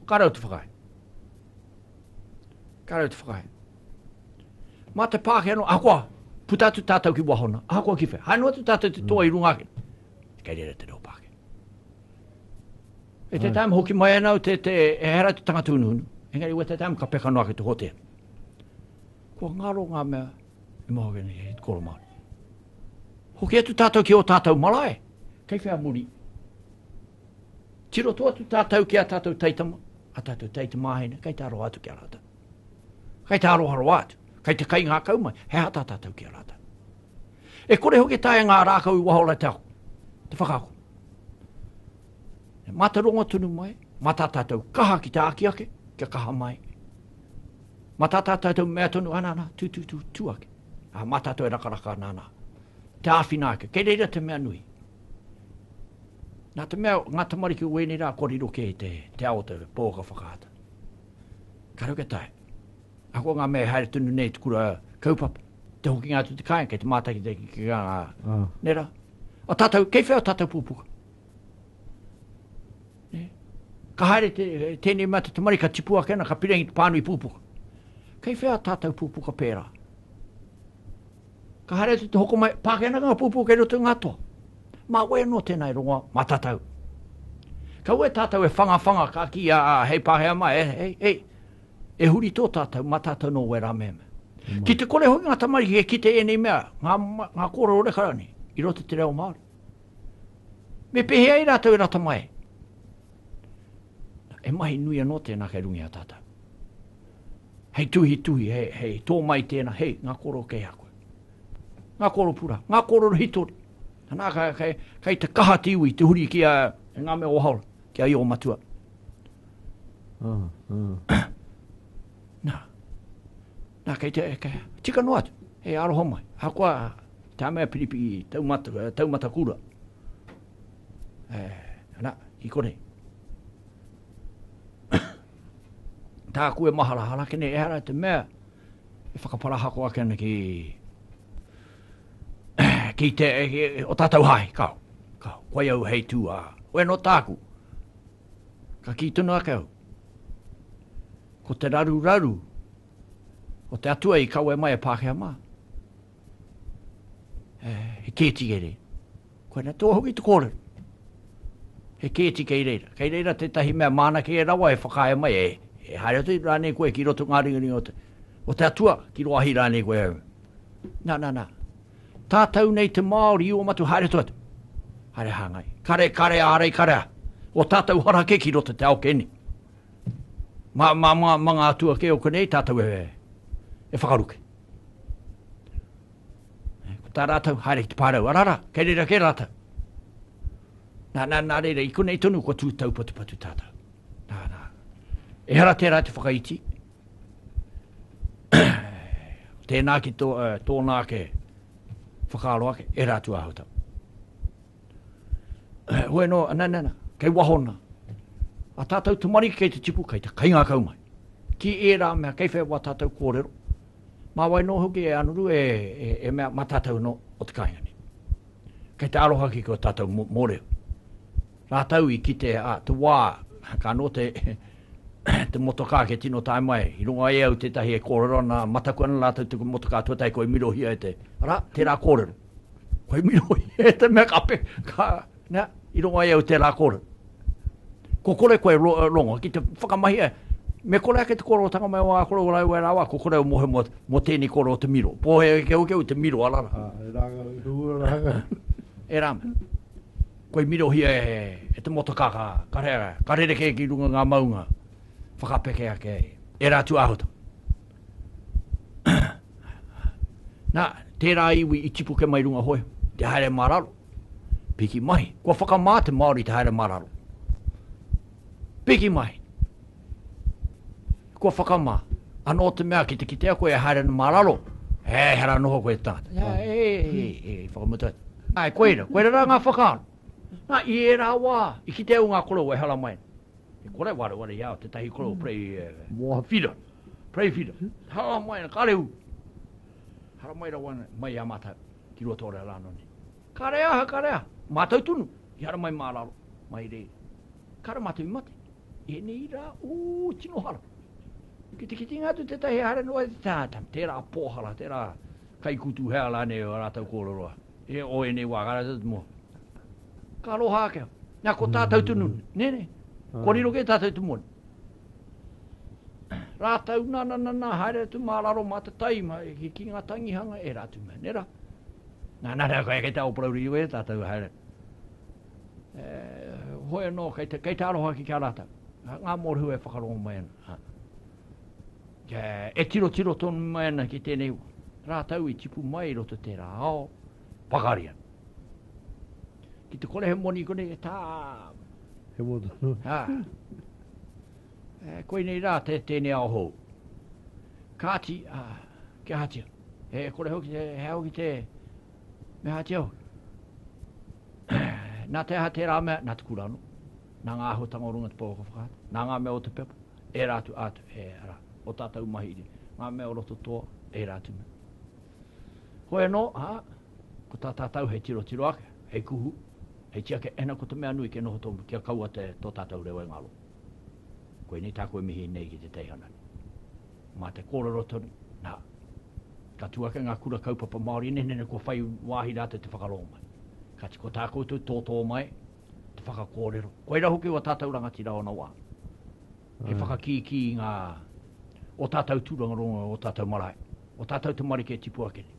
Ka rau te whakae. Ka rau te whakae. Mā te pāke anō, ahakoa, puta atu tātou ki wahona, ahakoa ki whea. Haino atu tātou te toa i runga ake. Kei rere te reo pāke. E te tāma hoki mai anau te, te, e hera te tangata unuhunu. Engari, we te tāma ka peka noa ki te hotea. Kua ngaro ngā mea, E Mahogany, he koro Māori. Hoki atu tātou ki o tātou marae, kei whea muri. Tiroto atu tātou ki a tātou taitama, a tātou taitamāhine, kei tā roa atu ki a rātou. Kei tā roa roa atu, kei te kai ngākau mai, he hata tātou ki a rātou. E kore hoki tae ngā rākau i wahola te ako, te whakaako. E mātauranga tonu mai, mā tā tātou kaha ki te āki ake, kia kaha mai. Mā tā tātou mea tonu, ana, ana, tū, tū, tū, tū ake. Ā, mā tātou e rakaraka ana, ana. Te āwhina ake, kei reira te mea nui. Nā te mea, ngā tamariki o wēnei rā, koriro kē te, te ao te pōka whakaata. Ka rau ke tae. Ako ngā mea e haere tonu nei te kura kaupapa. Te hoki ngā tu te kāinga, kei te mātaki te ki ngā, ah. nera. A tātou, kei whea tātou pūpuka? Ka haere te, tēnei mea te tamari, ka tipu ake ana, ka pirangi te pānui pūpuka. Kei whea tātou pūpuka pērā? Ka haere atu te hoko mai, pāke ana ngā pūpuka kei roto i ngā toa. Mā koe anō tēnā e rongoa, mā tātou. Ka ue tātou e whanga whanga, ka ki a, hei Pākehā mai, e, hei, hei, e huri tō tātou, mā tātou nō wērā mea mea. Ki te kore hoki ngā tamariki e kite ēnei mea, ngā, ngā kōrero reka rānei, i roto te reo Māori. Me pēhea ai rātou e rata mai? E mahi nui anō tēnā kei runga i a tātou. Hei tuhi tuhi, hei, hei tō mai tēnā, hei, ngā kōrero kei a koe. Ngā kōrero pura, ngā kōrero hitori. Anā, kei, kei, kei te kaha te iwi, te huri ki a, e ngā mea o haora, ki a i o matua. Mm, mm. Nā, Nā, kei te, kei, tika noa atu, he aroha mai. Ahakoa tā mea piripi taumata, eh, taumata kura. Eh, nā, i konei. Tāku e mahara hara kene, ehara te mea, e whakaparahako ake ana ki, ki te, ki, o tātou hai, kao, kao, koe au hei tū a, koe no tāku, Ka kī tonu ake au, ko te raruraru o te atua i kawe mai e Pākehā mā. E, he kēti kei reira. Koe na tō hoki te kōrero. He kēti kei reira. Kei reira tētahi mea māna kei e rawa e whakaae mai, e, e haere atu rānei koe ki roto ngā ringaringa o te, o te atua, ki roahi rānei koe. Nā, nā, nā. Tātou nei te Māori i oma atu, haere atu atu. Haere hāngai. Kare, kare, ārei kare. O tātou hara kē ki roto te ao kē nei. Mā, mā, mā, mā ngā atua kē o konei, tātou e, e whakaruke. Ko tā rātou, haere ki te pārau, arara, kei reira kē rātou. Nā, nā, nā reira, i konei tonu kua tū taupatupatu tātou. Nā, nā. Ehara tērā te whakaiti, Tēnā ki tō, uh, tōna ake whakaaro ake, e rā tu ahotau. Hoi no, na, na, na, kei wahona. A tātou tamariki kei te tipu, kei te kaingākau mai. Ki ērā mea, kei whea wā tātou kōrero. Mā wai nō hoki e anuru e, e, e mea mā tātou no o te kāinga nei. Kei te aroha ki kua tātou mōreo. Rātou i kite a te wā, ka noa te te motokā kia tino tae mai. I rongo e au tētahi e kōrero ana, mataku ana rātou te motokā tuatahi koi mirohia e te, arā, tērā kōrero. Koi mirohia e te mea ka pe, ka, nā, i rongo e au tērā kōrero. Ko kore koe ro, rongo, ki te whakamahia, me kore ake te kōrerotanga mai o ā kore o rāua e rāua, ko kore au mohe mō, mō tēnei kōrero te miro. Pōhēhē keuke au te miro, arā. Ā, e rāngau, e rūra rāngau. E rāngau. Koi mirohia e te motokaka, ka reara, ka rerekē ki runga ngā maunga, whakapeke ake ai, ērā atu āhuatanga. Nā, tērā iwi i tipuke mai runga hoi, te haere mā raro, piki mahi. Kua whakamā te Māori te haere mā raro. Piki mai. Kua whakamā. Anō te mea ki te kitea koe e haere ana mā raro, he ehara noho koe tātou. Nā, e, e, e, whakamutu atu. Nā, e koira, koira rā ngā whakaaro. Nā, i ērā wā, i kitea au ngā korou e haramai ana. E kore wareware i a au tētahi korou prei, e, moha whira, prei whira. Haramai ana, kāre ū. Haramai rawa ana, mai i a mātou, ki Ruatorea rānō nei. Kāre aha, kāre aha, mātou tonu, ehara mai mā raro, mai reira. Kāre mātou i mate, i ēnei rā, ū, tino hara. Ki te kitinga atu tētahi e haere noa i te tangata, tērā pōhara, tērā kaikutu, hea rānei ō rātou kōrero, e o ēnei wā, kāre tātou moa. Ka aroha ake au, nā, ko tātou tonu, nē, nē, kua riro kē tātou te moana. Rātou nā, nā, nā, nā, haere atu mā raro mā te taima e, ki, ki ngā tangihanga e rā atu mea, nē rā. Nā, nā, nā, kei te aopouri iho e tātou haere. E, hoi anō, kei te, kei te aroha ki kia rātou. Ngā mōrehu e whakarongo mai ana. Ha. E, e tiro tiro tonu mai ana ki tēnei rātou i tipu mai i roto tērā ao, pakari ana. Ki te kore he moni kone e tā. He moni. Ha. E, koe nei rā te tēnei ao hou. Kāti, a, kia hatia. He kore hoki te, he hoki te, me hatia hoki. Nā te aha tērā mea, nā te kurano. Nā ngā ahotanga o runga te pōka whakaata. Nā ngā mea o te pepa, e rātu ātu, e ara, o tātou mahi iri. Ngā mea o roto toa, e rātu mea. Hoi anō, ā, ko tā tātou hei tirotiro ake, hei kuhu, hei tiake, ena ko te mea nui kia noho tonu, kia kaua te, tō tātou reo e ngalo. Koinei tāku e mihi nei ki te teihana nei. Mā te kōrero tonu, nā, ka tū ake ngā kura kaupapa Māori nei, nene kua whai wāhi rātou te whakarongo mai. Kāti ko tā koutou tōtō mai, te whakakōrero, koirā hoki wā tātou rangatira ōna wā. he whakakīkī i ngā, ō tātou tūrangaronga, ō tātou marae, ō tātou tamariki e tipu ake nei.